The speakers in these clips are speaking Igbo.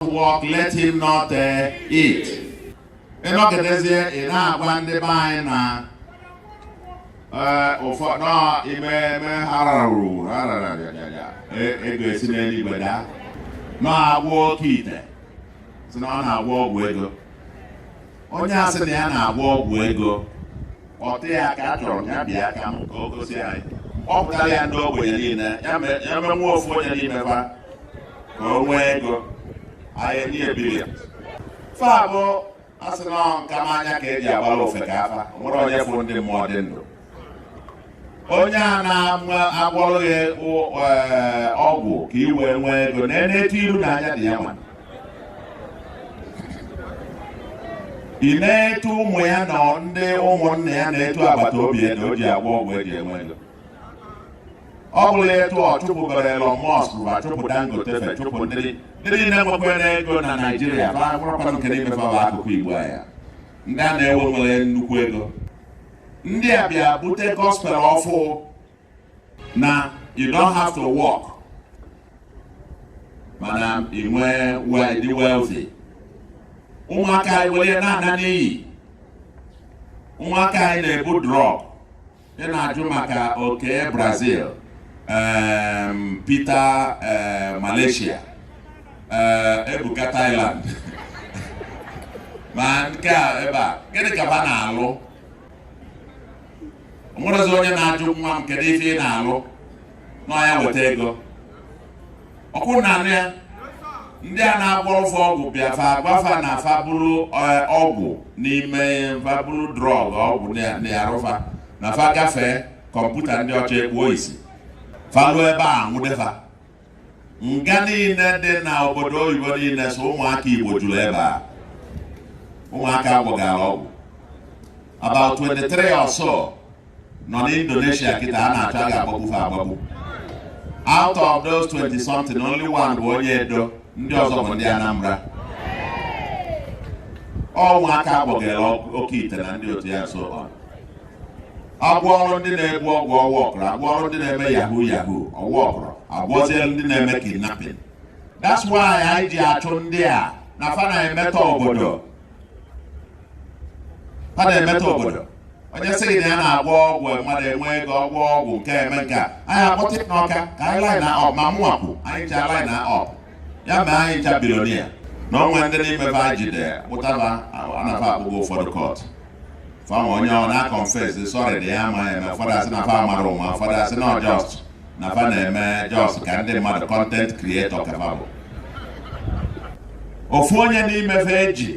not work, let him not uh, eat. ị nọgidezie ị na-agwa ndị be anyị na uh, ụfọdụ ime eme hararara ego esi n'eluigwe daa na-agwọ oke ite sị na ọ na-agwọ ọgwụ ego onye asị na ya na-agwọ ọgwụ ego ọ ụdị ya ka a chọrọ ya bịa ka m ka o gosi anyị akpọtara ya ndị ogbenye niile ya me- ya menwue ofu onye n'ime fa ka o nwee ego anyị enye ya billion fa bụ asị na ọ nka m anya ka eji agbara ofeke afa o nwere onye fụ ndị mmụọ dị ndụ onye a na-agwọrọ gị eh, ọgwụ ka ị wee nwee ego nenee etu iru na anya dị ya nwa ị neetu ụmụ ya na ndị ụmụnna ya neetu agbata obi ya na o ji agwọ ọgwụ eji enwe ego ọ bụrụ etu ọ chụpụgara Elon Musk ma chụpụ Dangote fa chụpụ ndị niile nwekwara ego na Naịjirịa bụ akwụrụkwanụ nke na-emefe akụkụ Igbo ya ndị a na-enwe nwere nnukwu ego ndị a bịa bute gospel ọfụụ na you don't have to work mana ị nwee wee dị wealthy ụmụaka anyị were na-ana n'iyi ụmụaka anyị na-ebu drug ị na-ajụ maka Okey Brazil um, Peter uh, Malaysia Ebuka Thailand ma nke a ebe a gịnị ka fa na-alụ o nwerezi onye na-ajụ nwa m kedu ife ị na-alụ na ya weta ego ọkwụ na anụ ya ndị a na-agwọrọ fa ọgwụ bịa fa agwa fa na fa buru eh, ọgwụ n'ime fa buru drug ọgwụ na-arụ fa na fa gafee kọmputa ndị ọcha ekpuo isi fa ruo ebe anwụde fa nga niile dị na obodo oyibo niile sọ ụmụaka Igbo juru ebe a ụmụaka a gwọgara ọgwụ about 23 or so nọ n'Indonesia kịta a na-achọ a ga-agbagbu fa agbagbu out of those 20 something only one bụ onye Edo ndị ọzọ bụ ndị Anambra ọ ụmụaka a gwọgara oke ite na ndị otu ya so agwọrọ ndị na-ebu ọgwụ ọwa ọkụrụ agwọrọ ndị na-eme yahoo yahoo ọwa ọkụrụ agwọzie ndị na-eme kidnapping that's why anyị ji achụ ndị a na fa na-emetọ obodo fa na-emetọ obodo onye sị gị na ya na-agwọ ọgwụ mmadụ enwe ego ọgwụ ọgwụ nke eme nke a anyị akpọta n'Ọka ka anyị line up ma mụnwa kwu anyị ji a-line up ya mee anyị ncha billionaire na o nwee ndị n'ime fa anyị jide kpụtaba na fa akpụgo ụfọdụ kọtụ fa mee onye ọ na-aconfess sorry dị ya ama eme ụfọdụ asị na fa mara ụma ụfọdụ asị na ọ just na fa na-eme just ka ndị mmadụ content creator ka fa bụ ofu onye n'ime fa eji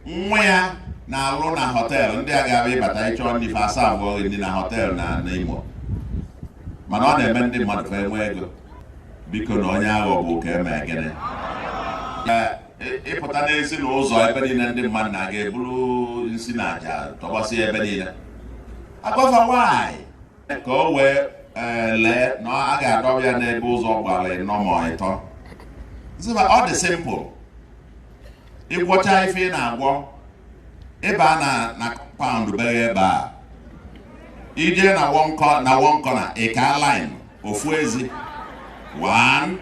nwa ya na-alụ na hotel ndị a ga-abịa ịbata ịchọ nni fa aserve gị nni na hotel na n'Imo mana ọ na-eme ndị mmadụ fa enwee ego bikonụ onye aghọgbu ka eme gịnị ịpụta n'ezi na ụzọ ebe niile ndị mmadụ na-aga eburu nsi na aja tọgbọsị ebe niile agbaa afa nwaanyị ka o wee e, lee na a ga-adọba ya n'ebe ụzọ gbara ịnọ ma ịtọ ọ dị simple ịgwọcha ife ị na-agwọ ịba na compound be gị ebe a ije na one corner ịka line ofu ezi one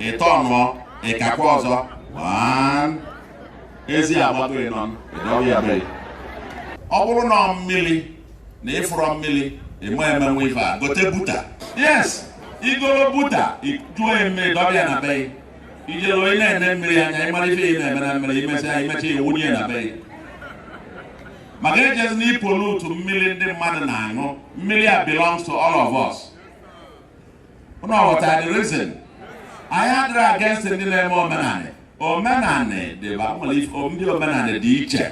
ịtọ ịnọ ịkakwa ọzọ one ezi agbago ịnọ ịdọba ya be ị ọ bụrụ na mmiri na ịfụrọ mmiri ịma emenwu ife a gote buta yes igoro buta juo mmiri dọba ya na be ị jee onye na-ene mmiri anya ịmara ife ị na-eme na mmiri imesịa imecha iwunye na be maka ejezina ipollute mmiri ndị mmadụ na-aṅụ mmiri a belongs to all of us unu aghọtara the reason anyị adịrọ against ndị na-eme omenanị omenanị dịba nwere ife ndị omenanị dị iche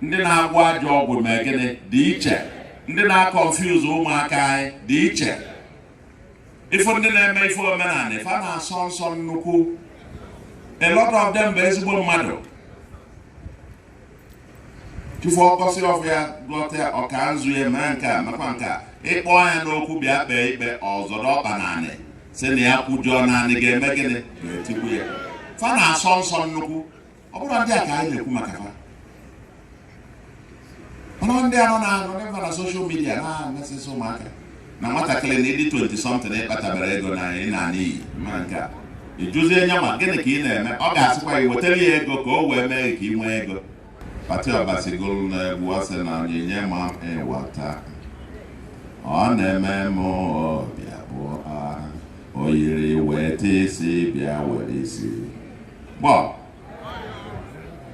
ndị na-agwọ ajọ ọgwụ mee gịnị dị iche ndị na-aconfuse ụmụaka anyị dị iche ịfụ ndị na-eme ife omenanị fa na-asọ nsọ nnukwu a lot of them bụ ezigbo mmadụ chi fo ọ kụsị ọfọ ya gọta ọ kaa nzu ya mee nke a mekwa nke a ịkpọ ya n'okwu bịa kpee ikpe ọ zọrọ ọkpa n'anị sị na ya kwujọọ na anị ga-eme gịnị ga-etigbu ya fa na-asọ nsọ nnukwu ọ bụrọ ndị a ka anyị na-ekwu maka fa ọ bụ ndị a nọ na-anọ na social media na-emesịsị ụmụaka na nwatakịrị na ịdị 20 something ịkpatabarọ ego na ị naa n'iyi ma nke a ịjụzie nya ma gịnị ka ị na-eme ọ ga-asịkwa gị wetara ya ego ka o wee mee ka ị nwee ego Patty Obasi gụrụ na egwu ọ sị na onyinye mamịwata ọ na-eme m ọbịa bụ aha o yiri weta isi bịa were isi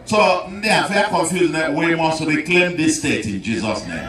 so ndị afụ confused na we must reclaim this state in Jesus name